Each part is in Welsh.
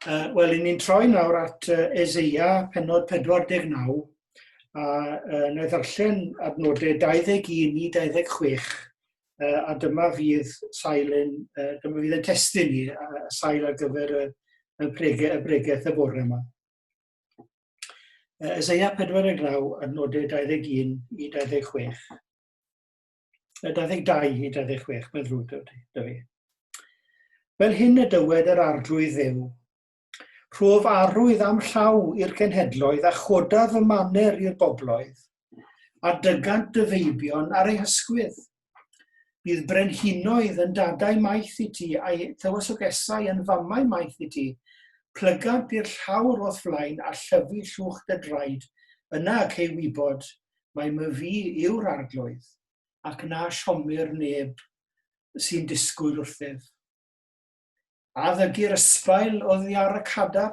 Uh, Wel, i ni'n troi nawr at uh, Ezeia, penod 49, a uh, na ddarllen adnodau 21 i 26, uh, a dyma fydd sail yn, uh, dyma fydd yn testyn ni, uh, sail ar gyfer y, y, brege, y bregeth y bore yma. Uh, Ezeia 49, adnodau 21 i 26. 22 i 26, mae'n ddrwg da fi. Fel hyn y dywed yr arglwydd ddew, Rhof arwydd am llaw i'r cenhedloedd a choda fy maner i'r bobloedd, a dygant dy feibion ar ei hysgwydd. Bydd brenhinoedd yn dadau maith i ti a'i tywysogesau yn famau maith i ti. Plygant i'r llawr o'th flaen a llyfu llwch dy draed, yna ac ei wybod, mae Myfi yw'r Arglwydd, ac na siomir neb sy'n disgwyl wrthyf. A ddygir ysbail oddi ar y cada,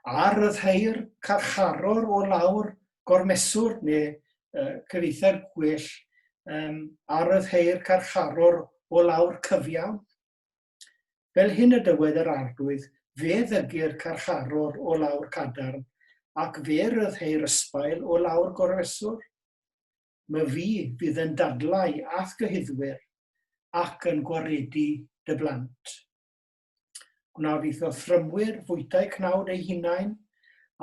a ryddhau'r carcharor o lawr gormeswr, neu uh, cyfeithiad gwell, um, a ryddhau'r carcharor o lawr cyfiawn. Fel hyn y dywed yr Arglwydd, Fe ddygir carcharor o lawr cadarn, ac fe ryddheir ysbail o lawr gorfeswr. My fi fydd yn dadlau a'th gyhuddwyr, ac yn gwaredu dy blant. Gwna fyth o thrymwyr fwytau cnawd eu hunain,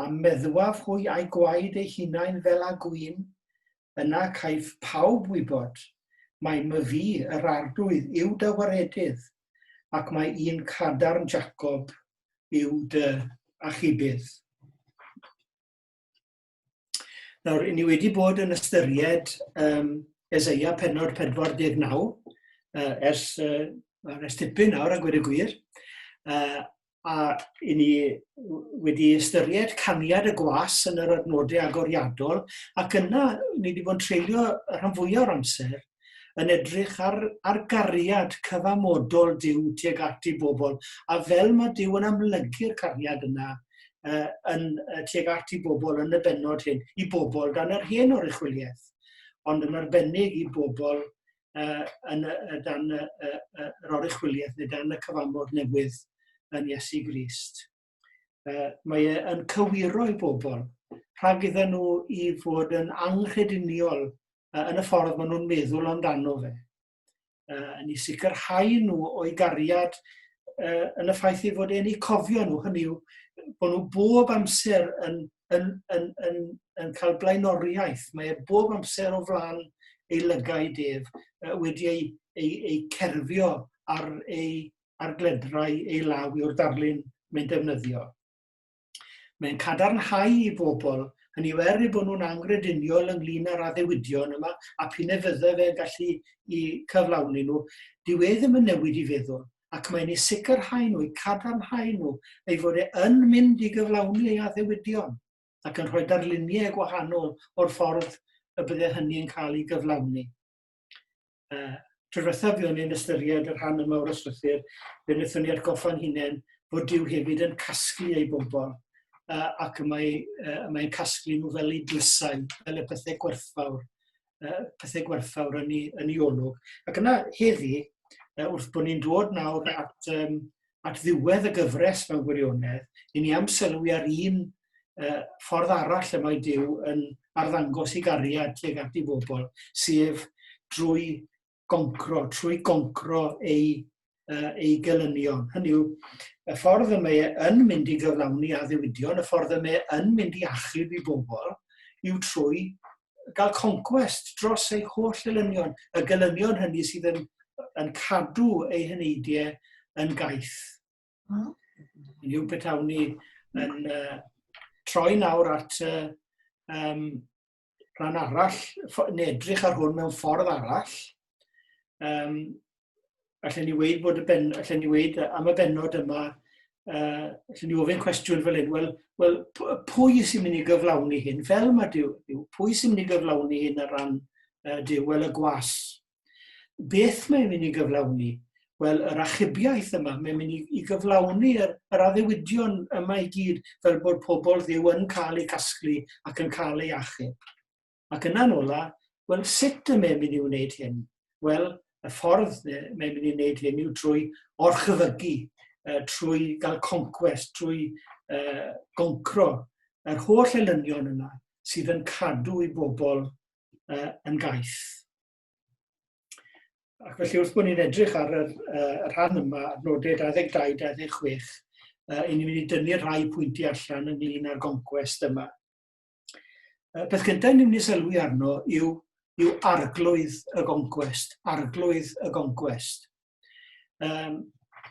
a meddwaf hwy a'u gwaed eu hunain fel a gwin, yna caiff pawb wybod mai myfi yr Arglwydd yw dy waredydd, ac mae un cadarn Jacob yw dy achubydd. Nawr, ni wedi bod yn ystyried um, Ezeia penod 49 uh, ers, uh, ers tipyn nawr, a gwir y gwir, uh, a i ni wedi ystyried caniad y gwas yn yr adnodau agoriadol, ac yna ni wedi bod yn treulio y rhan fwyaf o'r amser yn edrych ar, ar gariad cyfamodol Dyw tuag at ei bobl, a fel mae Dyw yn amlygu'r cariad yna uh, yn, uh, tuag at ei bobl yn y benod hyn, i bobl dan yr hen oruchwyliaeth, ond yn arbennig i bobl uh, yn, uh, dan uh, uh, yr oruchwyliaeth neu dan y cyfamod newydd yn Iesu Grist. Uh, mae e yn cywiro i bobl rhag iddyn nhw i fod yn anghrediniol uh, yn y ffordd maen nhw'n meddwl amdano fe. Uh, yn ei sicrhau nhw o'i gariad uh, yn y ffaith ei fod e'n ei cofio nhw, hynny yw bod nhw bob amser yn yn, yn, yn, yn cael blaenoriaeth. Mae e bob amser o flan ei lygau def wedi ei, ei, ei cerfio ar ei ar gledrau ei law yw'r darlun mae'n defnyddio. Mae'n cadarnhau i bobl, hynny yw er ei bod nhw'n angrediniol ynglyn â'r addewidion yma, a p'un e fydde fe'n gallu i cyflawni nhw, dyw e ddim yn newid i feddwl. ac mae'n eu sicrhau nhw, eu cadarnhau nhw, ei fod e yn mynd i gyflawni ei addewidion, ac yn rhoi darluniau gwahanol o'r ffordd y bydde hynny yn cael ei gyflawni. Uh, Tro diwethaf fi o'n i'n ystyried y rhan yma o'r yslythyr, fe wnaethon ni atgoffa'n hunain bod Dyw hefyd yn casglu ei bobl, uh, ac y mae, uh, mae'n casglu nhw fel ei dlysau, fel y pethau gwerthfawr. uh, pethau gwerthfawr yn ei, yn ei olwg. Ac yna heddi, uh, wrth bod ni'n dod nawr at, um, at ddiwedd y gyfres mewn gwirionedd, i ni am sylwi ar un uh, ffordd arall y mae Dyw yn arddangos i gariad tuag at ei bobl, sef drwy goncro, trwy goncro ei, uh, ei gelynion. Hynny yw, y ffordd y mae e yn mynd i gyflawni a ddiwydion, y ffordd y mae e yn mynd i achub i bobl, yw trwy gael conquest dros ei holl elynion, y gelynion hynny sydd yn, yn cadw ei hyneidiau yn gaeth. Hmm. Yn yw beth awn ni yn uh, troi nawr at uh, um, rhan arall, neu edrych ar hwn mewn ffordd arall, um, allan ni weid bod y ben, allan ni weid am y benod yma, uh, allan ni ofyn cwestiwn fel hyn, wel, wel pwy sy'n mynd i gyflawni hyn? Fel mae Dyw, pwy sy'n mynd i gyflawni hyn ar ran uh, Dyw? Wel, y gwas, Beth mae'n mynd i gyflawni? Wel, yr achubiaeth yma, mae'n mynd i, i gyflawni yr, yr addewidion yma i gyd fel bod pobl ddiw yn cael eu casglu ac yn cael eu achub. Ac yna'n ola, wel, sut y mae'n mynd i wneud hyn? Wel, y ffordd mae'n mynd i wneud hyn yw trwy orchefygu, uh, trwy gael conquest, trwy uh, goncro yr holl elynion yna sydd yn cadw i bobl uh, yn gaeth. Ac felly wrth bod ni'n edrych ar yr, uh, y rhan yma, nodau 22-26, uh, i ni'n mynd i dynnu rhai pwynti allan ynglyn â'r goncwest yma. Uh, peth gyntaf ni'n mynd i sylwi arno yw, yw arglwydd y goncwest, arglwydd y goncwest. Um,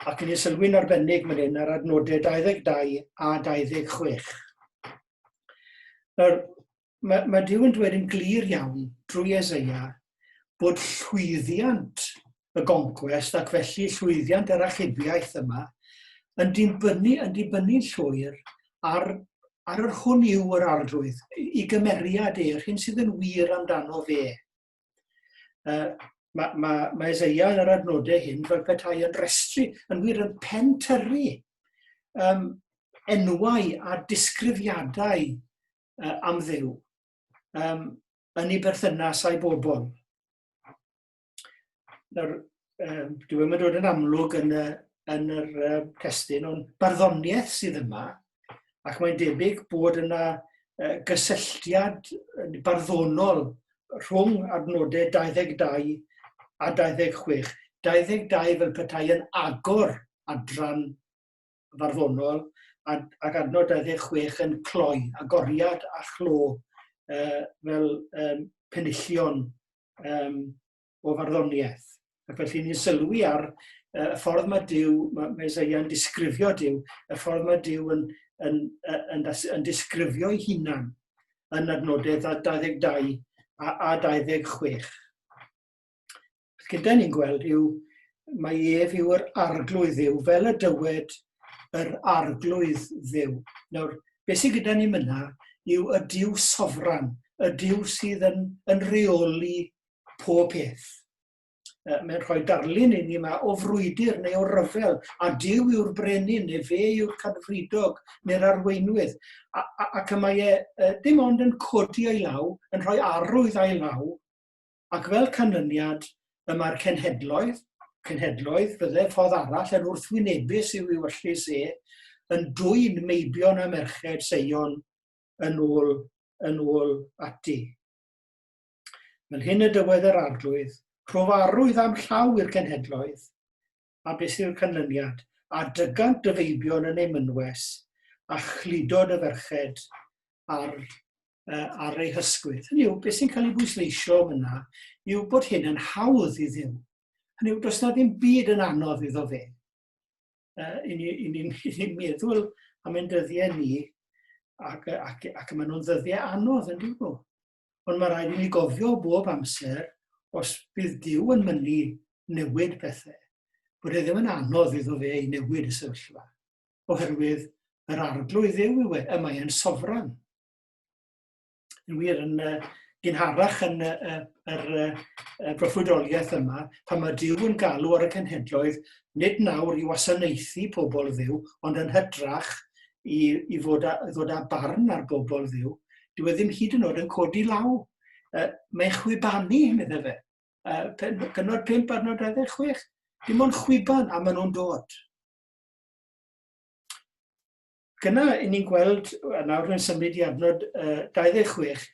ac yn ei sylwi'n arbennig fan hyn ar adnodau 22 a 26. Yr mae, mae Dyw yn dweud yn glir iawn drwy Ezeia bod llwyddiant y goncwest ac felly llwyddiant yr achubiaeth yma yn dibynnu yn dibynnu'n llwyr ar ar yr hwn yw yr arglwydd i gymeriad e'r hyn sydd yn wir amdano fe. Uh, mae, ma, ma Ezeia yn yr adnodau hyn fel petai yn restru, yn wir yn pentyrru um, enwau a disgrifiadau uh, am ddew um, yn ei berthynas a'i bobl. Nawr, um, dwi ddim yn dod yn amlwg yn, y, yn yr uh, testyn, ond barddoniaeth sydd yma, ac mae'n debyg bod yna uh, gysylltiad barddonol rhwng adnodau 22 a 26. 22 fel petai yn agor adran farddonol ac adnod 26 yn cloi, agoriad a chlo uh, fel um, penillion um, o farddoniaeth. Ac felly ni'n sylwi ar uh, y ffordd mae Dyw, mae Mesoea yn disgrifio Dyw, y ffordd mae Dyw yn, yn, yn, yn, yn disgrifio ei hunan yn adnodau 22 a, a 26. Beth gyda ni'n gweld yw mae ef yw'r arglwydd dduw, fel y dywed yr arglwydd dduw. Nawr, beth sydd gyda ni myna yw y diw sofran, y diw sydd yn, yn reoli pob peth. Uh, mae'n rhoi darlun i ni yma o frwydr neu o ryfel, a diw yw'r brenin, neu fe yw'r cadfridog, neu'r arweinwydd. A, a, ac y mae e uh, dim ond yn codi ei law, yn rhoi arwydd a'i law, ac fel canlyniad, y mae'r cenhedloedd, cenhedloedd, fydde ffordd arall yn wrthwynebus i'w ewyllys e, yn dwyn meibion a merched Seion yn ôl, yn ôl ati. Fel hyn y dywed yr arglwydd, rhofarwydd am llaw i'r cenhedloedd, a beth yw'r canlyniad? A dygant dy feibion yn ei mynwes, a chludo dy ferched ar, uh, ar ei hysgwydd. Hynny yw, beth sy'n cael ei bwysleisio yna yw bod hyn yn hawdd i ddim. Hynny yw, does na ddim byd yn anodd iddo fe. Uh, I ni'n ni, meddwl am ein dyddiau ni, ac, ac, ac maen nhw'n ddyddiau anodd yn dyn nhw. Ond mae rhaid i ni gofio bob amser, os bydd Dyw yn mynnu newid pethau, bod e ddim yn anodd iddo fe i newid y sefyllfa, oherwydd yr arglwydd yw yw e, y mae e'n sofran. Yn wir, yn uh, gynharach yn y uh, uh, uh, broffwydoliaeth yma, pan mae Dyw yn galw ar y cenhedloedd, nid nawr i wasanaethu pobl ddiw, ond yn hydrach i, i fod a, ddod â barn ar bobl ddiw, dyw e ddim hyd yn oed yn codi law. Uh, mae'n chwibanu, meddai fe. Uh, penod 5 ar nod 26. Dim ond chwiban a maen nhw'n dod. Gyna, yn ni'n gweld, a nawr yn symud i adnod uh, 26,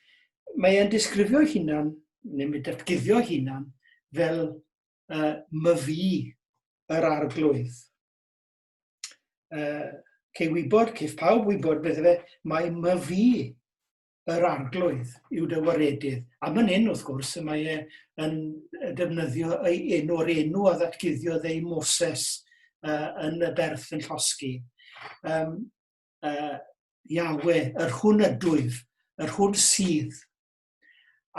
mae e'n disgrifio hunan, neu mae datguddio hunan, fel uh, myfi yr arglwydd. uh, cei wybod, cei pawb wybod beth efe, mae my fi yr arglwydd yw dy waredydd. A mae'n un, wrth gwrs, y mae e yn defnyddio ei enw'r enw a ddatguddiodd ei Moses uh, yn y berth yn llosgi. Um, uh, Iawe, yr hwn ydwyf, yr hwn sydd,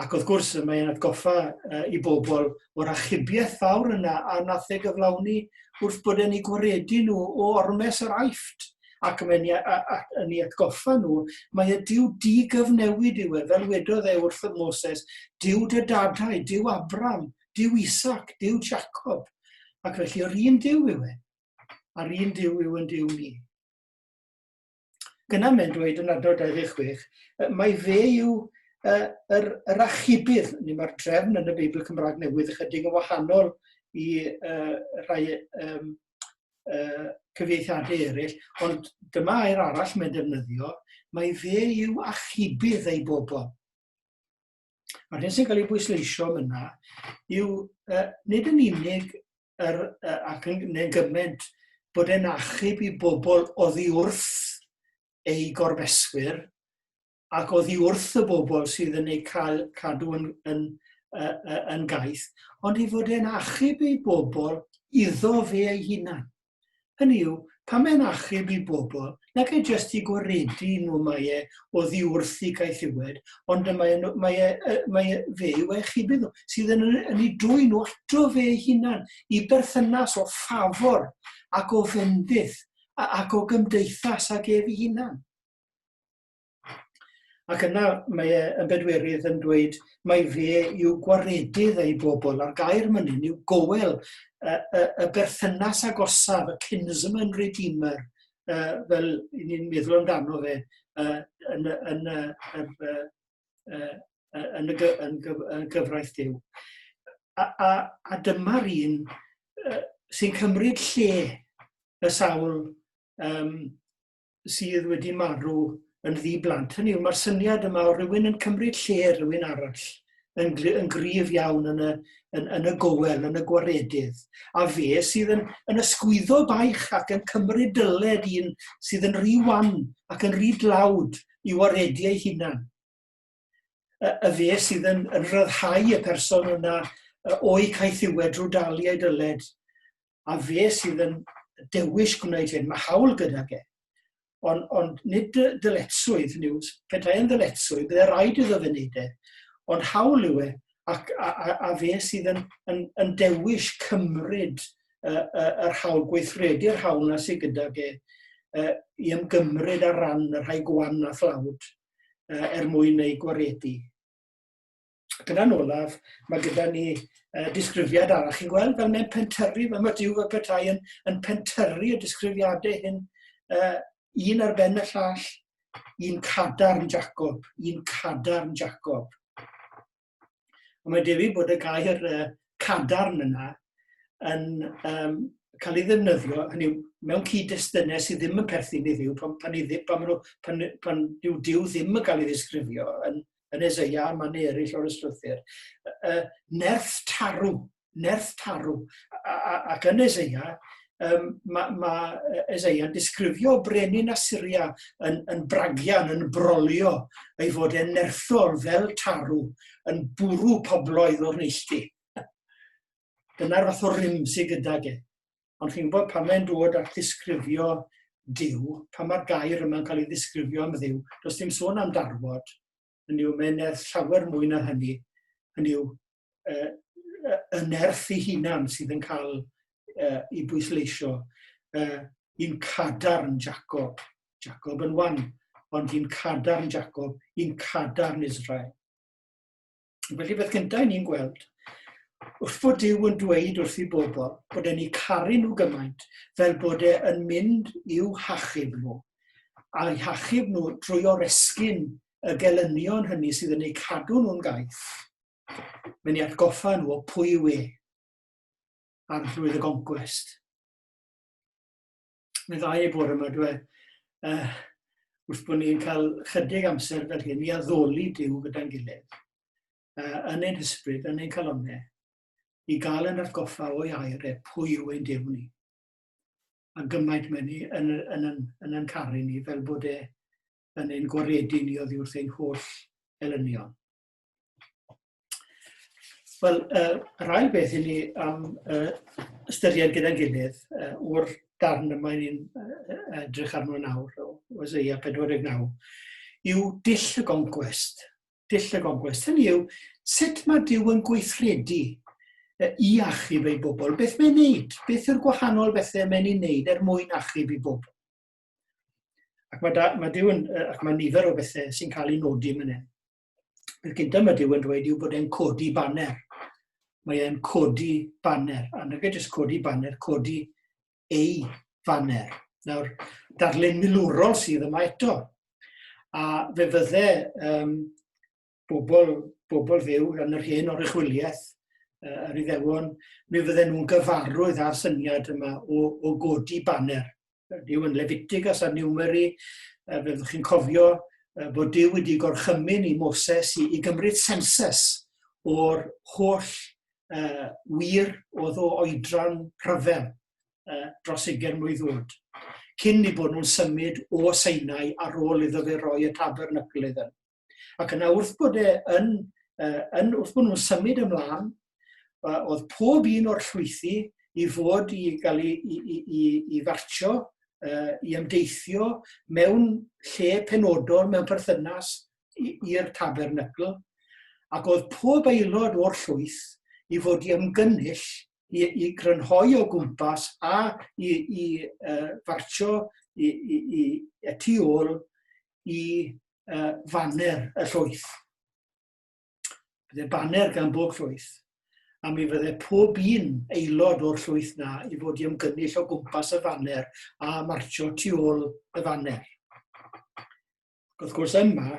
Ac wrth gwrs, mae e'n atgoffa uh, i bobl o'r achubiaeth fawr yna a nath ei gyflawni wrth bod e'n ei gwaredu nhw o ormes yr aifft ac mae'n yn ei atgoffa nhw, mae y diw digyfnewid yw e, fel wedodd e wrth y Moses, diw dy dadau, diw Abram, diw Isaac, diw Jacob. Ac felly yr un diw yw e, a'r un diw yw yn diw ni. gyna mae'n dweud yn adnod 26, mai fe yw uh, yr, yr achubydd, ni mae'r drefn yn y Beibl Cymraeg Newydd ychydig yn wahanol i uh, rhai um, uh, cyfieithiadau eraill, ond dyma air arall mae'n defnyddio, mae fe yw achubydd ei bobl. A'r hyn sy'n cael ei bwysleisio yna yw uh, nid yn unig yr, uh, ac yn neu'n gymaint bod e'n achub i bobl oddi wrth eu gorfeswyr ac oddi wrth y bobl sydd yn eu cael, cadw yn, yn, uh, uh, yn gaeth, ond i fod e'n achub i bobl iddo fe ei hunan. Hynny yw, pam mae'n achub i bobl, nag e jyst i gwaredu nhw mae e oddi wrth i gaethiwed, ond y mae, mae, e, mae e, fe yw eich hybu nhw, sydd yn, yn ei dwy nhw ato fe ei hunan, i berthynas o ffafwr ac o fendith ac o gymdeithas ag ef ei hunan. Ac yna mae e yn bedwerydd yn dweud mai fe yw gwaredydd ei bobl, a'r gair myny'n yw goel, y, y, y berthynas agosaf, y kinsman redeemer, uh, fel ni'n meddwl amdano fe uh, yn, yn, yn, uh, uh, yn, y, yn, gyf, yn gyfraith Dyw. A, a, a dyma'r un uh, sy'n cymryd lle y sawl um, sydd wedi marw yn ddi-blant. Hynny yw, mae'r syniad yma o rywun yn cymryd lle rhywun arall yn, yn gryf iawn yn y, yn, yn y gowel, yn y gwaredydd, a fe sydd yn, yn ysgwyddo baich ac yn cymryd dyled un sydd yn rhy wan ac yn rhy dlawd i waredu ei hunan. y, y fe sydd yn, yn rhyddhau y person yna o'i caethiwed drwy dalu ei dyled, a fe sydd yn dewis gwneud hyn, mae hawl gyda ge. Ond, on, nid dyletswydd, hynny yw, petai yn ddyletswydd, byddai rhaid iddo fe wneud e. Ond hawl yw e, ac, a, a, a fe sydd yn, yn, yn dewis cymryd uh, uh, yr hawl, gweithredu'r hawl na sydd gyda ge, uh, i ymgymryd ar ran y rhai gwan a thlawd. uh, er mwyn eu gwaredu. Ac yna'n olaf, mae gyda ni uh, disgrifiad arall. Chi'n gweld fel mae'n pentyrru, fel mae Dyw y Petai yn, yn pentyrru y disgrifiadau hyn, uh, un ar ben y llall, un cadarn Jacob, un cadarn Jacob. Ond mae'n debyg bod y gair uh, cadarn yna yn um, cael ei ddefnyddio, hynny yw, mewn cyd-destunau sydd ddim yn perthyn i ddiw, pan, pan, pan, pan, nhw, pan, pan yw diw ddim yn cael ei ddisgrifio yn, yn Ezeia a man eraill o'r ysgrythur. Uh, nerth tarw, nerth tarw. Ac yn Eseia, um, mae ma Eseia'n disgrifio brenin Assyria yn, yn bragian, yn brolio, ei fod e'n nerthol fel tarw, yn bwrw pobloedd o'r neilltu. Dyna'r fath o rym sydd gyda ge. Ond chi'n gwybod pan mae'n dod at ddisgrifio Dyw, pan mae'r gair yma'n cael ei ddisgrifio am Ddyw, does dim sôn am darfod, hynny yw mae'n nerth llawer mwy na hynny, hynny yw uh, y nerth ei hunan sydd yn cael uh, ei bwysleisio. Uh, i'n cadarn Jacob, Jacob yn wan, ond i'n cadarn Jacob, i'n cadarn Israel. Felly beth gyntaf ni'n gweld, wrth fod Dyw yn dweud wrth i bobl bod e'n ei caru nhw gymaint fel bod e'n mynd i'w hachub nhw, a'u hachub nhw drwy oresgyn y gelynion hynny sydd yn eu cadw nhw'n gaeth, mae'n ei atgoffa nhw o pwy yw e, arglwydd y goncwest. Mae'n dda ei bod yma, dwi, uh, wrth bod ni'n cael chydig amser fel hyn i addoli Dyw gyda'n gilydd, uh, yn ein hysbryd, yn ein calonau, i gael yn atgoffa o'i air e pwy yw ein Dyw ni. a gymaint mae ni yn, yn, yn, yn yn caru ni fel bod e yn ein gwaredu ni oddi wrth ein holl elynion. Wel, uh, yr ail beth i ni am uh, ystyried gyda'n gilydd uh, o'r darn yma ni'n uh, edrych arno nawr o Oseia 49 yw dill y goncwest. dull y gogwest. Hynny yw, sut mae Dyw yn gweithredu i achub ei bobl? Beth mae'n wneud? Beth yw'r gwahanol bethau mae'n ei wneud er mwyn achub ei bobl? Ac mae, da, mae Dyw yn, ac mae nifer o bethau sy'n cael ei nodi yn hyn. Beth gyntaf mae Dyw yn dweud yw bod e'n codi baner. Mae e'n codi baner. A nag e jyst codi baner, codi ei faner. Nawr, darlun milwrol sydd yma eto. A fe fydde um, bobl, bobl fyw yn yr hen oruchwyliaeth, uh, yr iddewon, mi fydde nhw'n gyfarwydd â'r syniad yma o, o godi baner. Dyw yn Lefitigas a Niwmeri, uh, fe chi'n cofio uh, bod Dyw wedi gorchymyn i Moses i, i gymryd sensus o'r holl uh, wir oedd o oedran rhyfel uh, dros ugen mlynedd oed, cyn i bod nhw'n symud o Seinau ar ôl iddo fe roi y tabernacl iddyn. Ac yna wrth bod e yn, uh, yn wrth bod nhw'n symud ymlaen, uh, oedd pob un o'r llwythi i fod i gael i, i, i, i, i fartio, uh, i ymdeithio mewn lle penodol, mewn perthynas i'r tabernacl, ac oedd pob aelod o'r llwyth i fod i ymgynnull i, i grynhoi o gwmpas a i, i uh, farcio i, i, i, i tu ôl i uh, faner y llwyth. Byddai baner gan bob llwyth, a mi fydde pob un aelod o'r llwyth na i fod i ymgynnull o gwmpas y faner a marcio tu ôl y faner. wrth gwrs yma,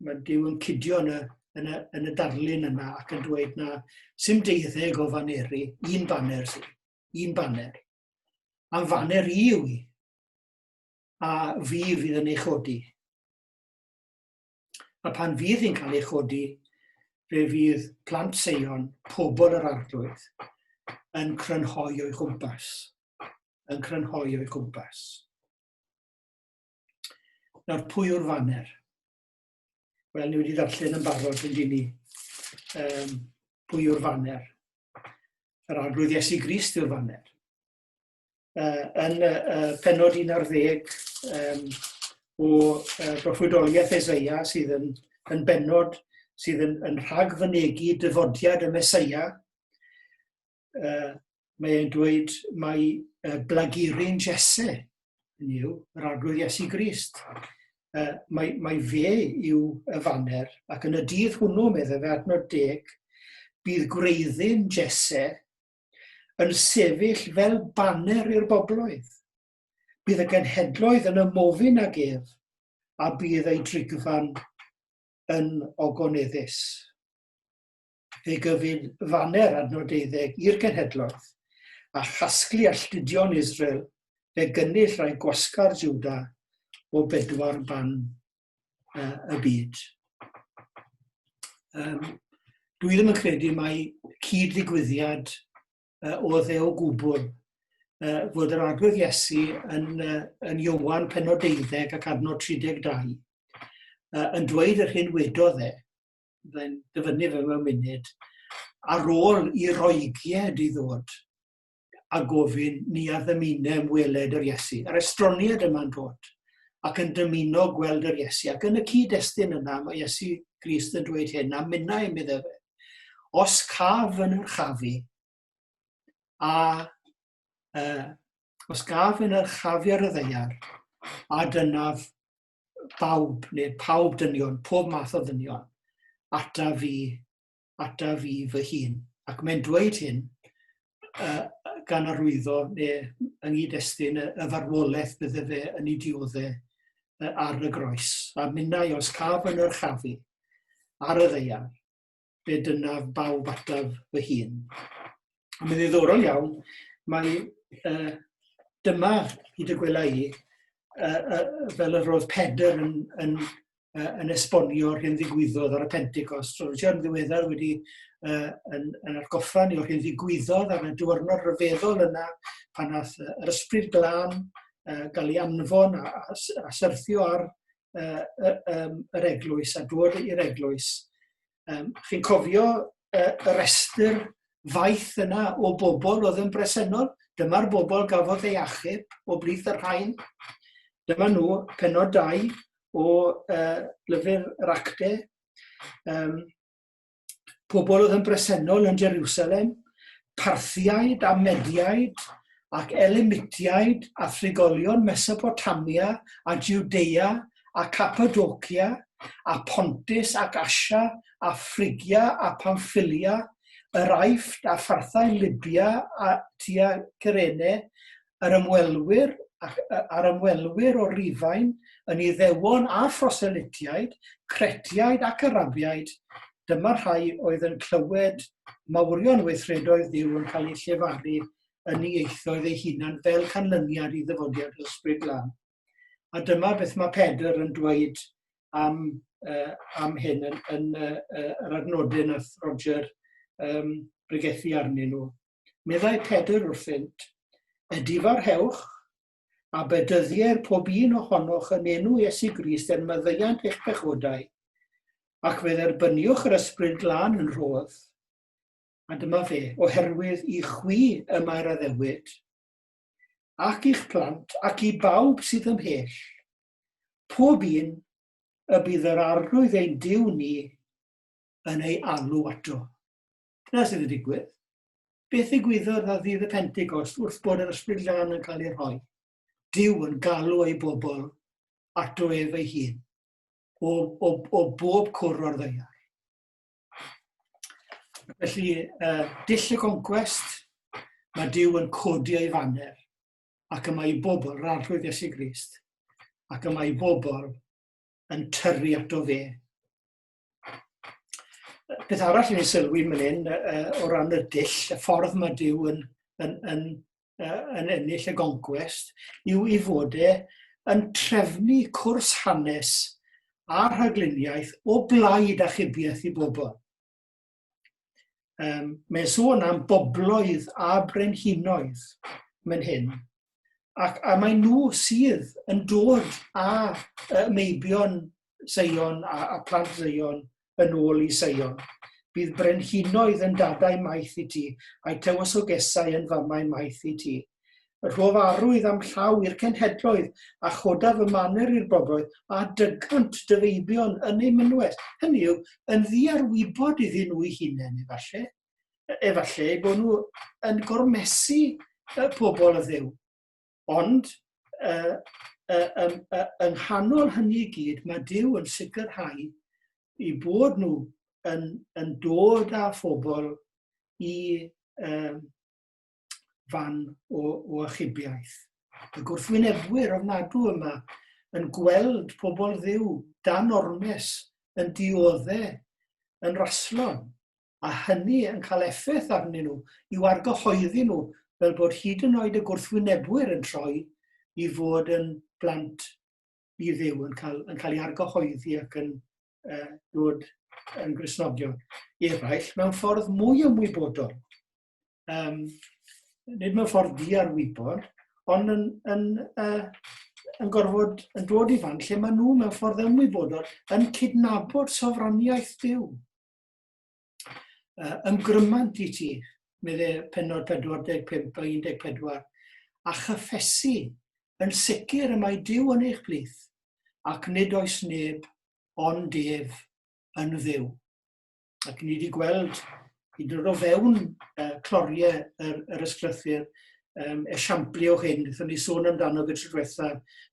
mae Dyw yn cydio yn y, yn y, yn y darlun yna ac yn dweud na sy'n deuddeg o faneri, un baner sy'n, un baner. A'n faner i yw i, a fi fydd yn ei chodi. A pan fydd hi'n cael ei chodi, fe fydd plant seion, pobl yr arglwydd, yn crynhoi o'i chwmpas. Yn crynhoi o'i chwmpas. Nawr, pwy yw'r faner? Wel, ni wedi ddarllen yn barod yn dyn ni um, pwy yw'r faner. Yr arglwydd Iesu Grist yw'r faner. Uh, yn uh, penod 11 um, o uh, broffwydoliaeth Ezeia sydd yn, yn benod sydd yn, yn rhagfynegu dyfodiad y Mesoea, uh, mae e'n dweud mae uh, blagurin Jesse, yn yw, yr arglwydd Iesu Grist. Uh, mae, mae fe yw y faner, ac yn y dydd hwnnw, meddwl fe adnod deg, bydd gwreiddyn Jesse yn sefyll fel baner i'r bobloedd. Bydd y genhedloedd yn ymofyn ag ef, a bydd ei drigfan yn ogoneddus. fe gyfun faner adnodeuddeg i'r genhedloedd, a chasglu alltudion Israel, fe gynnull rai gwasgar Juda o bedwar ban uh, y byd. Um, dwi ddim yn credu mae cyd-ddigwyddiad uh, o ddew gwbl uh, fod yr agwedd Iesu yn, uh, yn Iwan penod deuddeg ac adnod 32 uh, yn dweud yr hyn wedodd e Fyddai'n dyfynnu fe mewn munud ar ôl i roigied i ddod a gofyn ni a ddymunem weled yr Iesu. Yr estroniad yma'n dod ac yn dymuno gweld yr Iesu. Ac yn y cyd-destun yna, mae Iesu Grist yn dweud hyn, a minna i mi ddefe. Os caf yn yr chafu, a uh, os gaf yn yr chafu ar y ddeiar, a dynaf bawb, neu pawb dynion, pob math o ddynion, ata fi, ata fi fy hun. Ac mae'n dweud hyn uh, gan arwyddo neu yng nghyd-destun y, y farwolaeth bydde fe yn ei dioddau uh, ar y groes. A minnau os caf yn yr chafu ar y ddeian, be dynaf bawb ataf fy hun. A mae'n ddiddorol iawn, mae uh, dyma i dy gwela i, uh, uh, fel yr oedd Pedr yn, yn, uh, yn esbonio rhywun ddigwyddodd ar y Pentecost. So, Richard yn ddiweddar wedi uh, yn, yn argoffa ni o'r hyn ddigwyddodd ar y diwrnod rhyfeddol yna pan nath yr ysbryd glân uh, gael ei anfon a, a, a syrthio ar uh, uh, um, yr eglwys a dod i'r eglwys. Um, chi'n cofio uh, y restr faith yna o bobl oedd yn bresennol? Dyma'r bobl gafodd ei achub o blith yr rhain. Dyma nhw penod dau o uh, lyfr yr acte. Um, pobl oedd yn bresennol yn Jerusalem, Parthiaid a Mediaid, ac Elimitiaid a thrigolion Mesopotamia a Judea a Cappadocia a Pontus ac Asia a Phrygia a Pamphylia, yr Aifft a pharthau Libia a tua Cyrene, yr ymwelwyr ac a'r ymwelwyr o Rufain yn Iddewon a Phroselitiaid, Cretiaid ac Arabiaid, dyma rhai oedd yn clywed mawrion weithredoedd Duw yn cael eu llefaru yn ieithoedd eu hunan fel canlyniad i ddyfodiad yr Ysbryd Glân. A dyma beth mae Pedr yn dweud am, uh, am hyn yn, yn uh, yr adnodau nath Roger um, bregethu arnyn nhw. meddai Pedr wrthynt, Edifarhewch a bedyddier pob un ohonoch yn enw Iesu Grist er maddeuant eich pechodau, ac fe dderbyniwch yr Ysbryd Glân yn rhodd. A dyma fe, oherwydd i chwi y mae'r addewid, ac i'ch plant, ac i bawb sydd ymhell, pob un y bydd yr arglwydd ein Duw ni yn ei alw ato. Dyna sydd wedi digwydd. Beth ddigwyddodd dda ddydd y Pentecost wrth bod yr Ysbryd Glân yn cael ei rhoi? Dyw yn galw ei bobl ato ef ei hun, o, o, o bob cwr o'r ddeiar. Felly, uh, dill y conquest, mae Dyw yn codi ei faner, ac yma i bobl, rarllwydd Iesu Grist, ac yma i bobl yn tyrru ato fe Beth arall ni'n sylwi yn hyn o ran y dull, y ffordd mae Dyw yn, yn, yn, yn ennill y goncwest, yw i fod e yn trefnu cwrs hanes a rhagluniaeth o blaid achubiaeth i bobl. Um, mae'n sôn am bobloedd a brenhinoedd mae'n hyn, ac a mae nhw sydd yn dod a uh, meibion Seion a, a plant Seion yn ôl i Seion. Bydd brenhinoedd yn dadau maith i ti, a'i tewysogesau yn famau maith i ti. Rhof arwydd a'm llaw i'r cenhedloedd, a chodaf fy maner i'r bobloedd, a dygant dy feibion yn eu mynwes. Hynny yw, yn ddiarwybod iddyn nhw'u hunain, efallai, efallai eu bod nhw yn gormesu y pobl y ddew. Ond, uh, uh, um, uh, yng nghanol hynny i gyd, mae Dyw yn sicrhau i bod nhw yn, yn dod â phobl i, um, fan o, o achubiaeth. Y gwrthwynebwyr ofnadw yma yn gweld pobl ddiw dan ormes yn diodde, yn raslon, a hynny yn cael effaith arnyn nhw i'w argyhoeddi nhw fel bod hyd yn oed y gwrthwynebwyr yn troi i fod yn blant i ddiw, yn cael, yn cael ei argyhoeddi ac yn uh, dod yn grisnogion eraill mewn ffordd mwy ymwybodol. um, nid mewn ffordd di ar wybod, ond yn, yn, uh, yn gorfod yn dod i fan lle maen nhw mewn ffordd ymwybodol yn cydnabod sofraniaeth Dyw. Uh, ymgrymant i ti, medde penod 45 a 14, a chyffesu yn sicr y mae Dyw yn eich plith, ac nid oes neb ond ef yn ddiw. ac ni wedi gweld hyd yn oed o fewn uh, cloriau yr, yr ysglythyr um, esiamplu o hyn, wnaethon ni sôn amdano gyda tro diwetha,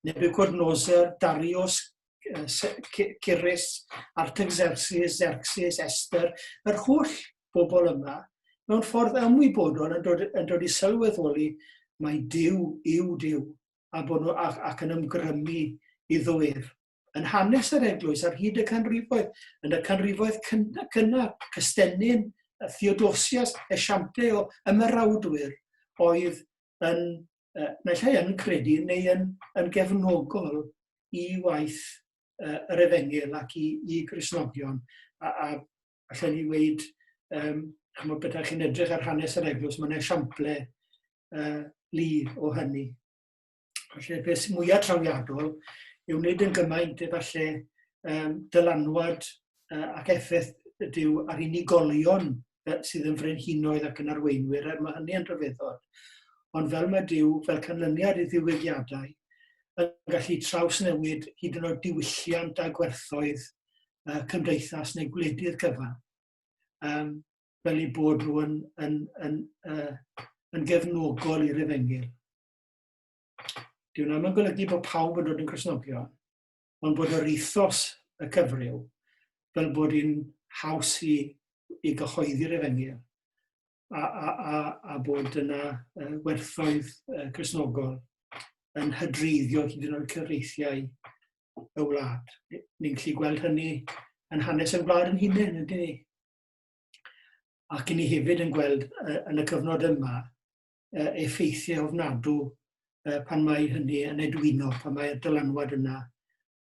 Nebuchadnezzar, Darius, Cyrus, Artaxerxes, Xerxes, Esther, yr holl bobl yma, mewn ffordd ymwybodol yn dod, yn dod i sylweddoli mae Dyw yw Dyw, a bod nhw ac, ac yn ymgrymu i ddwyr. yn hanes yr eglwys ar hyd y canrifoedd, yn y canrifoedd cynnar, cynnar Cystennin, Theodosias, Esiample o ymerawdwyr oedd yn, uh, naill ai yn credu neu yn, yn gefnogol i waith uh, yr efengil ac i, i grisnogion. A, a allan ni weid, um, chymod beth chi'n edrych ar hanes yr eglwys, mae'n esiample uh, lu o hynny. falle beth sy'n mwyaf trawiadol yw wneud yn gymaint efallai um, dylanwad uh, ac effaith ydyw ar unigolion sydd yn frenhinoedd ac yn arweinwyr, er mae hynny yn rhyfeddol. Ond fel mae Dyw, fel canlyniad i ddiwygiadau, yn gallu trawsnewid hyd yn oed diwylliant a gwerthoedd uh, cymdeithas neu gwledydd gyfan. Um, fel ei bod nhw yn, yn, yn, uh, yn gefnogol i'r efengyl. Dyw hwnna ddim yn golygu bod pawb yn dod yn Cristnogion, ond bod yr ethos y cyfryw, fel bod hi'n haws i, i gyhoeddi'r efengyl, a, a, a, a bod yna uh, werthoedd uh, Cristnogol yn hydreiddio hyd yn oed cyfreithiau y wlad. Ni'n gallu gweld hynny yn hanes y wlad yn hunain, ydyn ni? Ac i ni hefyd yn gweld uh, yn y cyfnod yma uh, effeithiau ofnadw uh, pan mae hynny yn edwino, pan mae'r dylanwad yna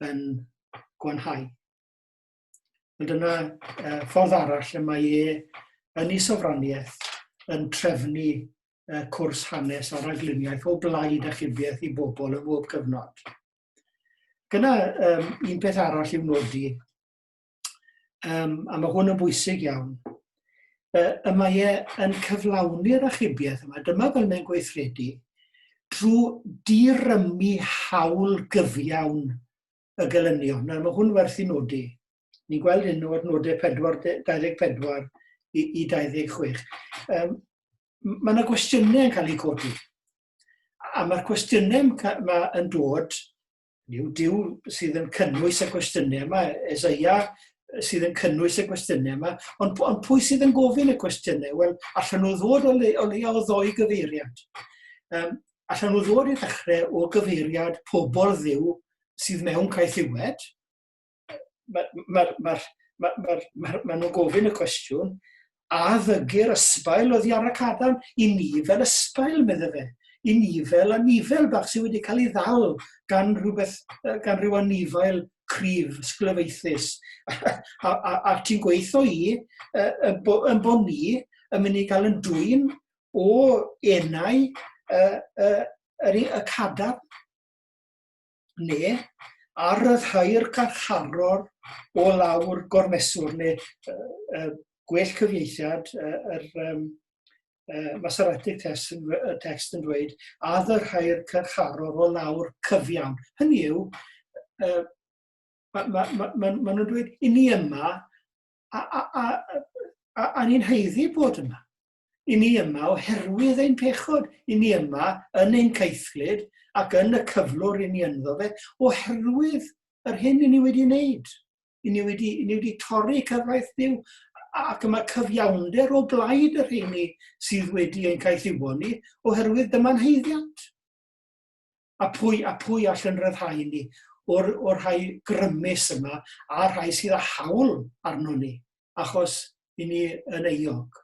yn gwanhau. Ond dyna uh, ffordd arall lle mae e yn ei sofraniaeth yn trefnu uh, cwrs hanes a ragluniaeth o blaid a chybiaeth i bobl yn bob cyfnod. Gyna um, un peth arall i'w nodi, Um, a mae hwn yn bwysig iawn. Uh, y mae e yn cyflawni'r achubiaeth yma. Dyma fel mae'n gweithredu drwy dirymu hawl gyfiawn y gelynion. Nawr, mae hwn werth i nodi. Ni'n gweld hyn o adnodau 24 i, i 26. Um, mae yna gwestiynau yn cael eu codi. A mae'r cwestiynau mae yn dod Yw diw sydd yn cynnwys y cwestiynau yma, Ezeia sydd yn cynnwys y cwestiynau yma, ond, ond pwy sydd yn gofyn y cwestiynau? Wel, allan nhw ddod o, le, o leia o ddoi gyfeiriad. Um, allan nhw ddod i ddechrau o gyfeiriad pobl ddiw sydd mewn caethiwed, mae'r mae, mae, mae, mae, mae, mae nhw'n gofyn y cwestiwn, a ddygir ysbail o ddiar y cadarn i ni fel ysbail, medde fe, i ni fel anifel bach sydd wedi cael ei ddal gan, rhywbeth, gan rhyw anifail cryf, sglyfaethus. a, a, a ti'n gweithio i, yn bo, yn bo ni yn mynd i gael yn dwy'n o enau y, y, y, y cadar ne, a ryddhau'r carcharor o lawr gormeswr, neu uh, uh, gwell cyfieithiad, uh, yr um, uh, Masoretic test yn, uh, text yn dweud, a ddyrhau'r carcharor o lawr cyfiawn. Hynny yw, uh, maen ma, ma, ma, ma nhw'n dweud, i ni yma, a, a, a, a, a ni'n heiddi bod yma. I ni yma oherwydd ein pechod, i ni yma yn ein caethlyd ac yn y cyflwr i ni ynddo fe, oherwydd yr hyn i ni wedi wneud. I ni wedi, i ni wedi torri cyfraith Dyw ac yma cyfiawnder o blaid yr heini sydd wedi ein caethiwo ni, oherwydd dyma'n heiddiant. a pwy, a pwy all yn rhyddhau i ni o'r, or rhai grymus yma a rhai sydd â hawl arno ni, achos i ni yn euog.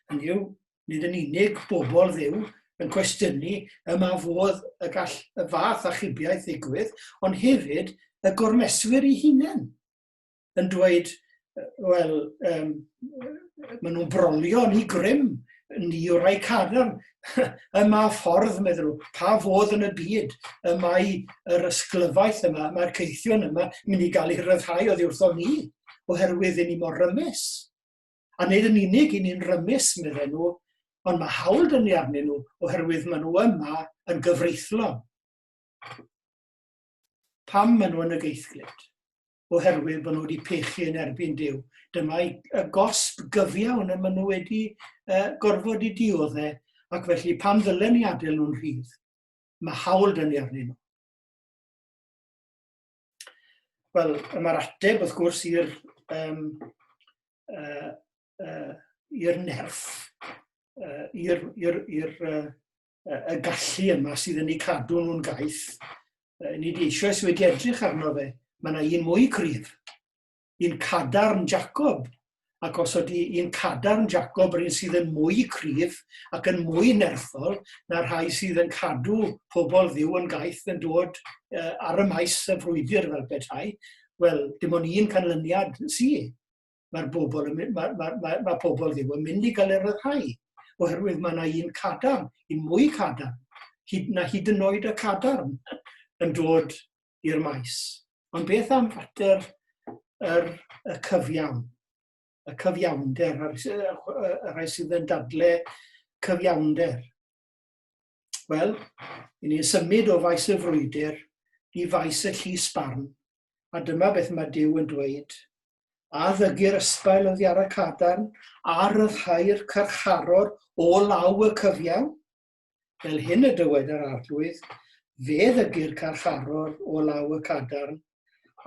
Hynny yw, nid yn unig bobl ddiw yn cwestiynu yma fodd y gall y fath achubiaeth ddigwydd, ond hefyd y gormeswyr i hunain. yn dweud, wel, um, maen nhw'n brolio ni grym, ni o rai cadarn. y ma ffordd, meddwl nhw, pa fodd yn y byd y mae yr ysglyfaeth yma, mae'r ceithion yma, mynd i gael ei rhyddhau o ddiwrthon ni, oherwydd i ni mor rymus. A nid yn unig i ni'n rymus, meddwl nhw, ond mae hawl dyn ni arnyn nhw oherwydd maen nhw yma yn gyfreithlon. Pam maen nhw yn y geithglyd? oherwydd bod nhw wedi pechu yn erbyn Dyw. Dyma y gosb gyfiawn y maen nhw wedi uh, gorfod i dioddau, ac felly pam ddylen ni adael nhw'n rhydd? Mae hawl dyn ni arnyn nhw. Wel, mae'r ateb, wrth gwrs, i'r um, uh, uh, i'r nerth, uh, i'r uh, y gallu yma sydd yn eu cadw nhw'n gaeth. Ni di eisiau sydd wedi edrych arno fe. Mae yna un mwy cryf. Un cadarn Jacob. Ac os ydy un cadarn Jacob yr un sydd yn mwy cryf ac yn mwy nerthol na rhai sydd yn cadw pobl ddiw yn gaeth yn dod uh, ar y maes y frwydr fel petai, wel, dim ond un canlyniad sydd. mae'r bobl yn mynd, mae, mae, mae, mae pobl ddim yn mynd i gael galer y rhai, oherwydd mae yna un cadarn, un mwy cadarn, hyd, na hyd yn oed y cadarn yn dod i'r maes. Ond beth am fater yr, y cyfiawn, y cyfiawnder, y rhai sydd yn dadle cyfiawnder? Wel, i ni'n symud o faes y frwydr i faes y llys barn, a dyma beth mae Dyw yn dweud, a ddygir ysbail yn ddiara cadarn, a ryddhau'r carcharor o law y cyfiawn? Fel hyn y dywed yr Arglwydd, Fe ddygir carcharor o law y cadarn,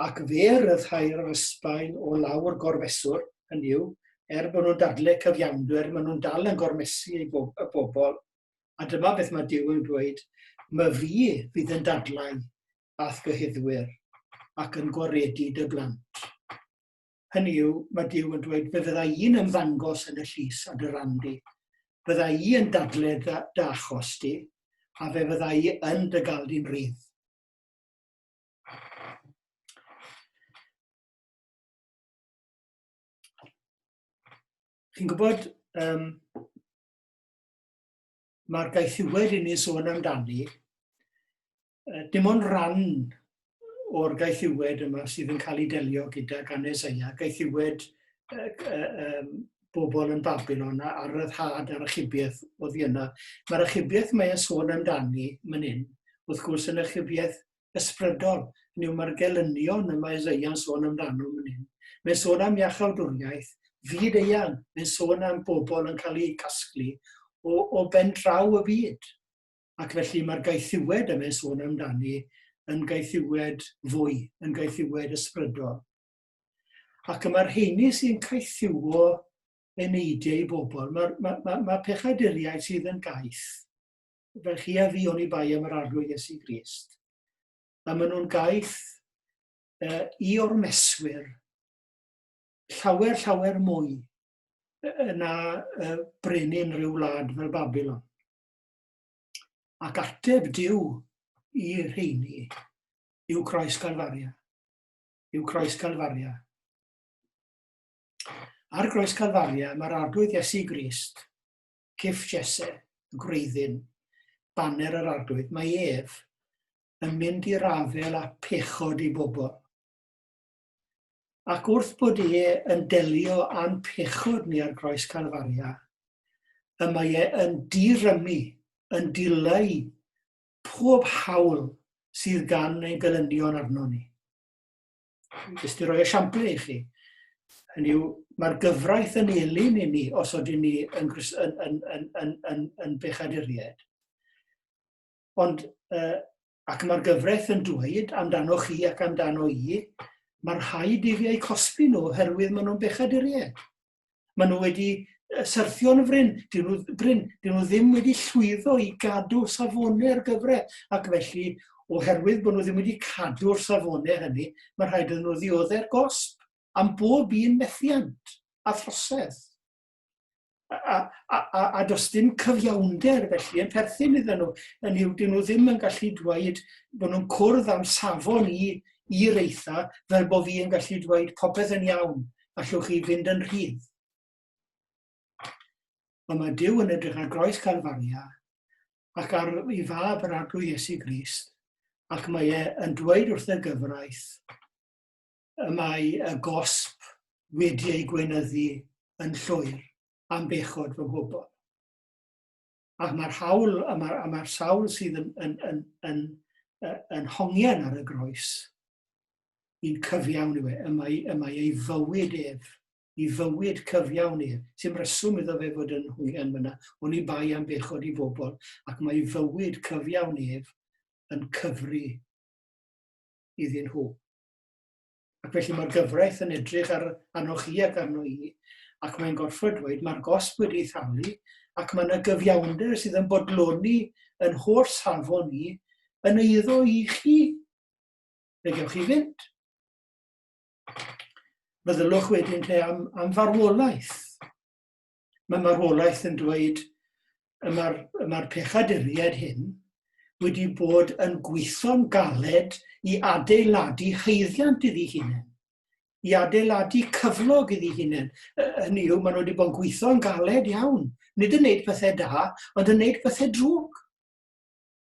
ac fe ryddhau'r ysbail o law'r gorfeswr, hynny yw, er bod nhw'n dadle cyfiawndw, er maen nhw'n dal yn gormesu ei bob, y bobl. A dyma beth mae Dyw yn dweud, Mae fi fydd yn dadlau a'th gyhuddwyr, ac yn gwaredu dy blant. Hynny yw, mae Dyw yn dweud, fe fydda i'n ymddangos yn y llys a dy ran di, fydda i yn dadle dy, dy achos di, a fe fydda i yn dy gael di'n rydd. Chi'n gwybod, um, mae'r gaethiwed i ni sôn amdani dim ond rhan o'r gaethiwed yma sydd yn cael ei delio gyda gan Esaia, gaethiwed uh, um, bobl yn Babylon a, a ryddhad a'r achubiaeth o ddi yna. Mae'r achubiaeth mae e'n sôn amdani myn hyn, wrth gwrs yn achubiaeth ysbrydol, hynny yw mae'r gelynion y mae Esaia'n sôn amdano myn hyn. Mae'n sôn am iachawdwriaeth, fyd eang, mae'n sôn am bobl yn cael eu casglu o, o ben draw y byd. Ac felly mae'r gaethiwed yma yn sôn amdani yn gaethiwed fwy, yn gaethiwed ysbrydol. Ac y mae'r heini sy'n caethiwo eneidiau i bobl, mae, mae, mae, mae pechaduriaid sydd yn gaeth, fel chi a fi o'n i bai am yr arglwydd Iesu Grist, a maen nhw'n gaeth uh, i ormeswyr llawer, llawer mwy na uh, brenin rhyw wlad fel Babylon. Ac ateb Dyw i rheini yw Croes Galfaria. Yw Croes Galfaria. Ar Groes Galfaria mae'r Arglwydd Iesu Grist, cif Jesse, y gwreiddyn, baner yr Arglwydd, mae ef yn mynd i'r afel a pechod i bobl. ac wrth bod e yn delio â'n pechod ni ar groes Calfaria, y mae e yn dirymu, yn dileu pob hawl sydd gan ein gelynion arno ni. Jyst i roi esiampl i chi, hynny yw, mae'r gyfraith yn elyn i ni os oedden ni yn, yn, yn, yn, yn, yn, yn bechaduriaid. Ond uh, ac mae'r gyfraith yn dweud amdanoch chi ac amdano i, mae rhaid i fi eu cosbi nhw oherwydd maen nhw'n bechaduriaid. Maen nhw wedi syrthio'n fryn, dyn nhw, bryn, dyn nhw ddim wedi llwyddo i gadw safonau'r gyfraith, ac felly oherwydd bod nhw ddim wedi cadw'r safonau hynny, mae rhaid iddyn nhw ddioddau'r gosb am bob un methiant a throsedd. a, a, a, a does dim cyfiawnder felly yn perthyn iddyn nhw. Yn yw, dyn nhw ddim yn gallu dweud bod nhw'n cwrdd am safon i, i reitha fel bod fi yn gallu dweud popeth yn iawn, allwch chi fynd yn rhydd. Ond mae Dyw yn edrych ar groes Calfaria ac ar ei fab yr arglwydd Iesu Grist ac mae e yn dweud wrth y gyfraith, y mae y gosb wedi ei gweinyddu yn llwyr am bechod fy nghwbl. Ac mae'r hawl, a mae'r ma sawl sydd yn, yn, yn, yn, yn, yn hongian ar y groes, yn cyfiawn yw e, y mae, y mae ei fywyd ef, i fywyd cyfiawn ef, sy'n reswm iddo fe fod yn hwngian fyna, ond i bai am bechod i bobl, ac mae fywyd cyfiawn ef yn cyfri iddyn nhw. Ac felly mae'r gyfraith yn edrych ar anoch chi ac arno i, ac mae'n gorfod dweud mae'r gosb wedi ei thalu, ac mae yna gyfiawnder sydd yn bodloni yn holl safon ni yn eiddo i chi. Fe gewch chi fynd. Meddylwch wedyn te am, am farwolaeth. mae marwolaeth yn dweud y mae'r mae pechaduriaid hyn wedi bod yn gweithio'n galed i adeiladu heiddiant iddi hunain, i adeiladu cyflog iddi hunain. Hynny yw, maen nhw wedi bod yn gweithio'n galed iawn. Nid yn wneud pethau da, ond yn wneud pethau drwg.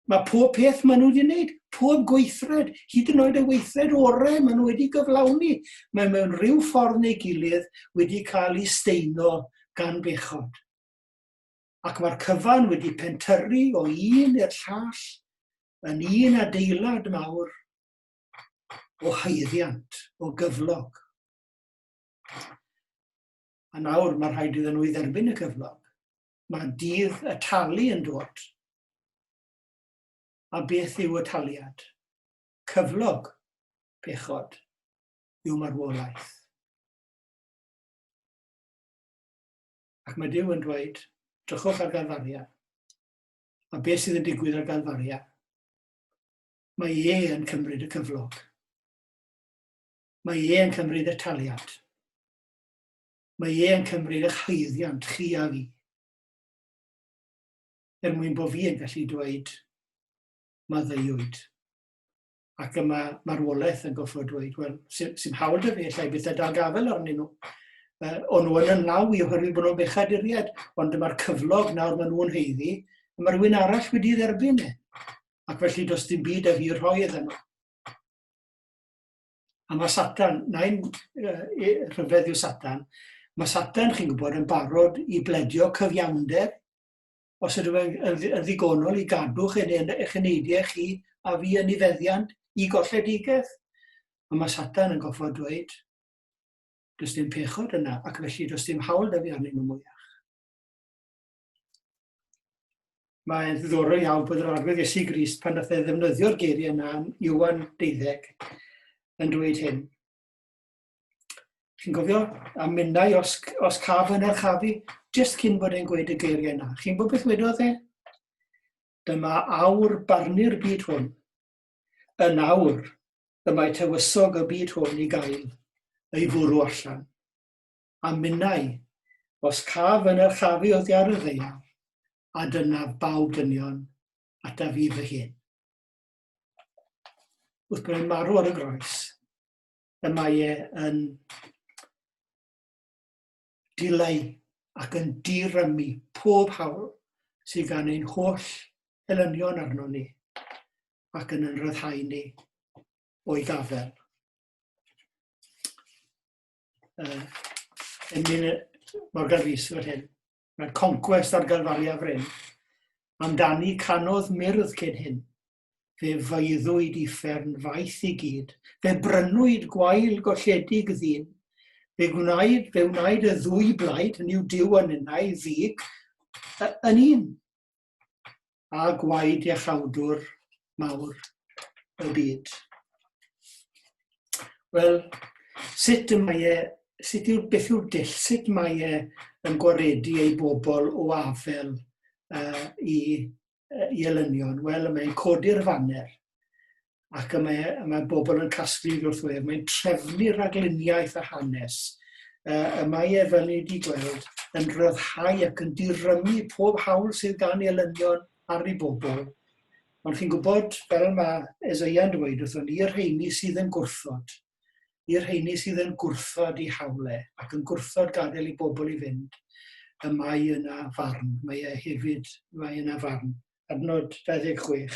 Mae pob peth maen nhw wedi wneud, pob gweithred, hyd yn oed y weithred orau maen nhw wedi gyflawni, mae mewn rhyw ffordd neu gilydd wedi cael ei steino gan bechod. Ac mae'r cyfan wedi pentyrru o un i'r llall yn un adeilad mawr o haeddiant, o gyflog. A nawr mae rhaid iddyn nhw i dderbyn y cyflog. Mae dydd y talu yn dod. A beth yw y taliad? Cyflog, pechod, yw marwolaeth. Ac mae Dyw yn dweud, drychwch ar Galfaria. A beth sydd yn digwydd ar Galfaria? Mae e yn cymryd y cyflog. Mae e yn cymryd y taliad. Mae e yn cymryd eich haeddiant chi a fi. Er mwyn bod fi yn gallu dweud, mae ddeuwyd. Ac yma marwolaeth yn goffod dweud, wel, sy'n sy hawl da fi, allai bethau dal gafael arnyn nhw. Uh, o'n nhw yn ymlaw i oherwydd bod nhw'n bechaduriad, ond dyma'r cyflog nawr maen nhw'n heiddi, a mae rhywun arall wedi dderbyn e. Ac felly does dim byd a fi rhoi iddyn nhw. A mae Satan, nain rhyfedd yw Satan, mae Satan, chi'n gwybod, yn barod i bledio cyfiawnder os ydw yn ddigonol i gadw chi'n eich eneidiau chi a fi yn ei feddiant i golledigaeth. Ond mae Satan yn goffa dweud, does dim pechod yna, ac felly does dim hawl da fi arnyn nhw mwyach. Mae'n ddiddorol iawn bod yr arglwydd Iesu Grist pan nath e ddefnyddio'r geiriau yna yn Iwan 12 yn dweud hyn. Chi'n gofio? A minnau os, os caf yn archafu, jyst cyn bod e'n gweud y geiriau yna. Chi'n bod beth wedodd e? Dyma awr barnu'r byd hwn. Yn awr, y mae tywysog y byd hwn i gael ei fwrw allan. a minnau, os caf yn archafu oddi ar y ddaear, a dynaf baw dynion ataf i fy hun. Wrth bod e'n marw ar y groes, y mae e yn dileu ac yn dirymu pob hawl sydd gan ein holl elynion arno ni ac yn ynryddhau ni o'i gafel. uh, Emlyn Morgan Rhys fel hyn, mae'r conquest ar galfalu a fryn, amdani canodd myrdd cyn hyn, fe feiddwyd i ffern faith i gyd, fe brynwyd gwael golledig ddyn, fe gwnaed, fe wnaed y ddwy blaid, hynny yw diw yn yna i ddig, yn un. a gwaed iachawdwr mawr y byd. Wel, sut y mae e, sut yw'r beth yw'r dull, sut mae e yn gwaredu ei bobl o afel uh, i, uh, i elynion? Wel, mae'n codi'r faner. ac y mae, y mae bobl yn casglu wrth wrthwyr, mae'n trefnu ragluniaeth a hanes, uh, y mae e fel ni wedi gweld yn rhyddhau ac yn dirymu pob hawl sydd gan ei elynion ar ei bobl. Ond chi'n gwybod, fel mae Esaia'n dweud wrthon ni, i'r rheini sydd yn gwrthod, i'r rheini sydd yn gwrthod i hawle ac yn gwrthod gadael i bobl i fynd, y mae yna farn, mae e hefyd, mae yna farn. Adnod 26.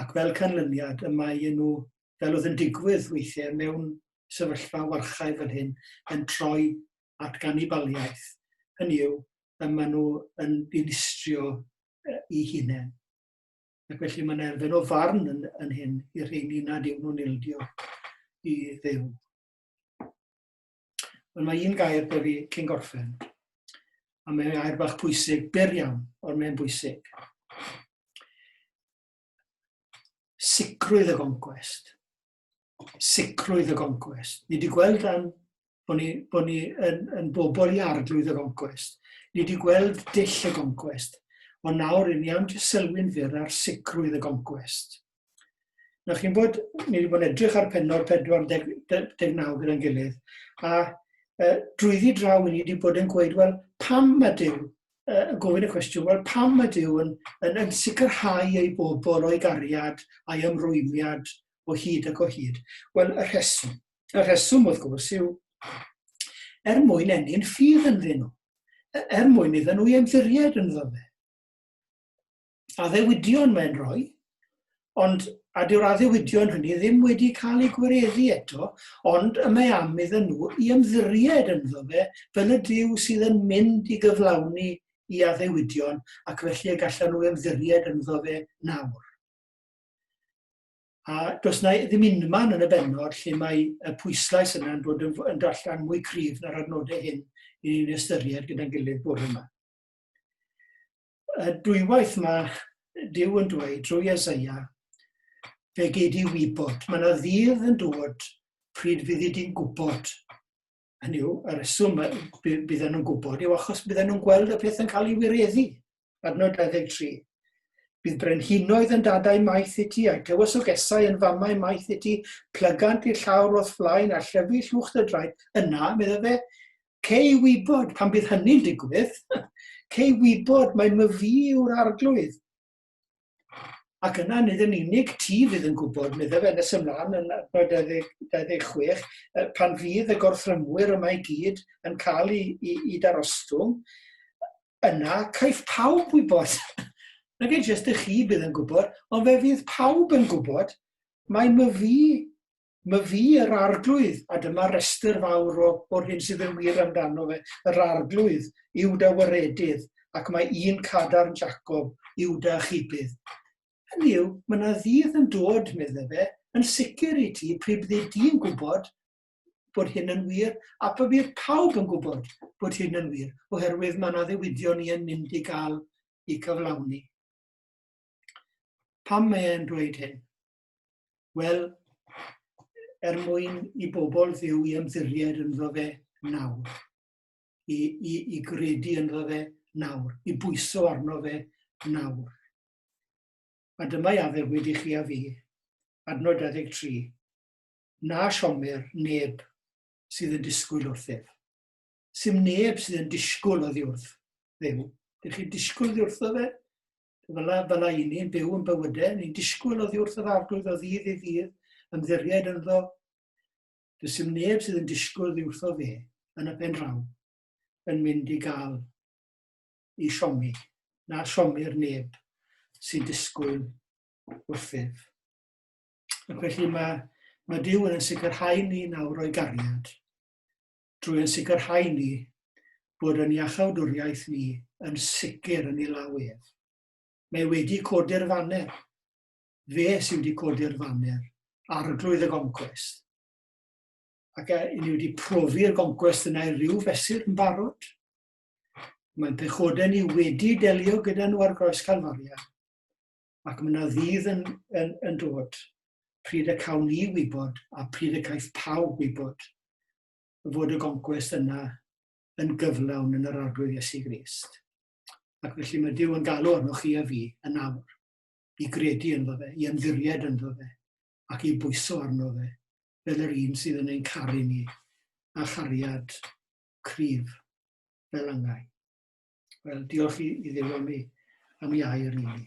ac fel canlyniad y mae nhw, fel oedd yn digwydd weithiau mewn sefyllfa warchae fel hyn, yn troi at ganibaliaeth, hynny yw, y mae nhw yn dinistrio i hunain. Ac felly mae'n erfyn o farn yn, yn hyn i'r rheini nad yw nhw'n ildio i ddew. Ond mae un gair da fi cyn gorffen. A mae'n gair bach pwysig, byr iawn, ond mae'n bwysig. Sicrwydd y goncwest. Sicrwydd y goncwest. Ni wedi gweld dan bod ni, bod ni yn, yn bobl i arglwydd y goncwest. Ni wedi gweld dill y goncwest. Ond nawr, rydyn ni am jyst sylwi'n fyr ar sicrwydd y goncwest. Nawr chi'n bod, ni wedi bod yn edrych ar penod 49 gyda'n gilydd, a e, drwyddi draw ni wedi bod yn gweud, wel, pam mae Dyw, e, gofyn y cwestiwn, wel, pam mae Dyw yn, yn, yn sicrhau ei bobl o'i gariad a'i ymrwymiad o hyd ac o hyd? Wel, y rheswm, y rheswm wrth gwrs yw er mwyn enni'n ffydd ynddyn nhw, e, er mwyn iddyn nhw i ymddiried yn fe. addewidion mae'n rhoi, ond a dyw'r addewidion hynny ddim wedi cael eu gwireddu eto, ond y mae am iddyn nhw i ymddiried ynddo fe fel y Dyw sydd yn mynd i gyflawni i addewidion ac felly y gallan nhw ymddiried ynddo fe nawr. A does na ddim unman yn y benod lle mae y pwyslais yna'n dod yn, yn darllen mwy cryf na'r adnodau hyn i ni'n ystyried gyda'n gilydd bore yma. dwywaith mae Dyw yn dweud drwy Esaia, fe gei di wybod. Mae yna ddydd yn dod pryd fydd i di'n gwybod. Hynny yw, y reswm bydden nhw'n gwybod yw achos bydden nhw'n gweld y peth yn cael ei wireddu. Adnod 23. Bydd brenhinoedd yn dadau maith i ti, a tywysogesau yn famau maith i ti, plygant i'r llawr o'th flaen, a llyfu llwch dy draed. Yna, medda fe, Cei wybod pan bydd hynny'n digwydd. Cei wybod mae my fi yw'r arglwydd. Ac yna nid yn unig ti fydd yn gwybod, medde fe nes ymlaen yn adnod 26, pan fydd y gorthrymwyr yma i gyd yn cael ei, ei, ei darostwng, yna caiff pawb wybod. Nag ei jyst y chi bydd yn gwybod, ond fe fydd pawb yn gwybod, mae my fi Mae fi yr Arglwydd, a dyma restr fawr o, o'r hyn sydd yn wir amdano fe. Yr Arglwydd, Iwda waredydd, ac mae un cadarn Jacob, Iwda a chybydd. Hynny yw, mae yna ddydd yn dod, meddai fe, yn sicr i ti, pryd byddi di'n gwybod bod hyn yn wir, a pa bydd pawb yn gwybod bod hyn yn wir, oherwydd mae yna ddiwydion i yn mynd i gael i cyflawni. Pam mae e'n dweud hyn? Wel, er mwyn i bobl fyw i ymddiried ynddo fe nawr, i, i, i gredu ynddo fe nawr, i bwyso arno fe nawr. A dyma i addef wedi chi a fi, adnod 23, na siomer neb sydd yn disgwyl wrth ef. Sym neb sydd yn disgwyl oddi wrth ddew. Dych chi disgwyl ddi wrtho fe? Fyla, fyla i ni'n byw yn bywydau, ni'n disgwyl oddi wrth yr arglwydd o ddydd i ddydd, ymddiried ynddo. Does dim neb sydd yn disgwyl oddi wrtho fe, yn y pen draw, yn mynd i gael i siomi, na siomi'r neb sy'n disgwyl wrthyf. Ac felly mae, mae Dyw yn sicrhau ni nawr o'i gariad. drwy ein sicrhau ni bod ein iachawdwriaeth ni yn sicr yn ei law ef. Mae wedi codi'r faner. Fe sydd wedi codi'r faner, Arglwydd y Goncwest. Ac a ni wedi profi'r goncwest yna i ryw fesur yn barod? Mae'n pechodau ni wedi delio gyda nhw ar groes Calfaria. ac mae yna ddydd yn, yn, yn dod pryd y cawn ni wybod a pryd y caiff pawb wybod fod y goncwest yna yn gyflawn yn yr arglwydd Iesu Grist. Ac felly mae Dyw yn galw arnoch chi a fi yn awr i gredu ynddo fe, i ymddiried ynddo fe, ac i bwyso arno fe, fel yr un sydd yn ein caru ni, a chariad cryf fel angau. Wel, diolch i, i ddew am ei, am ei air i ni.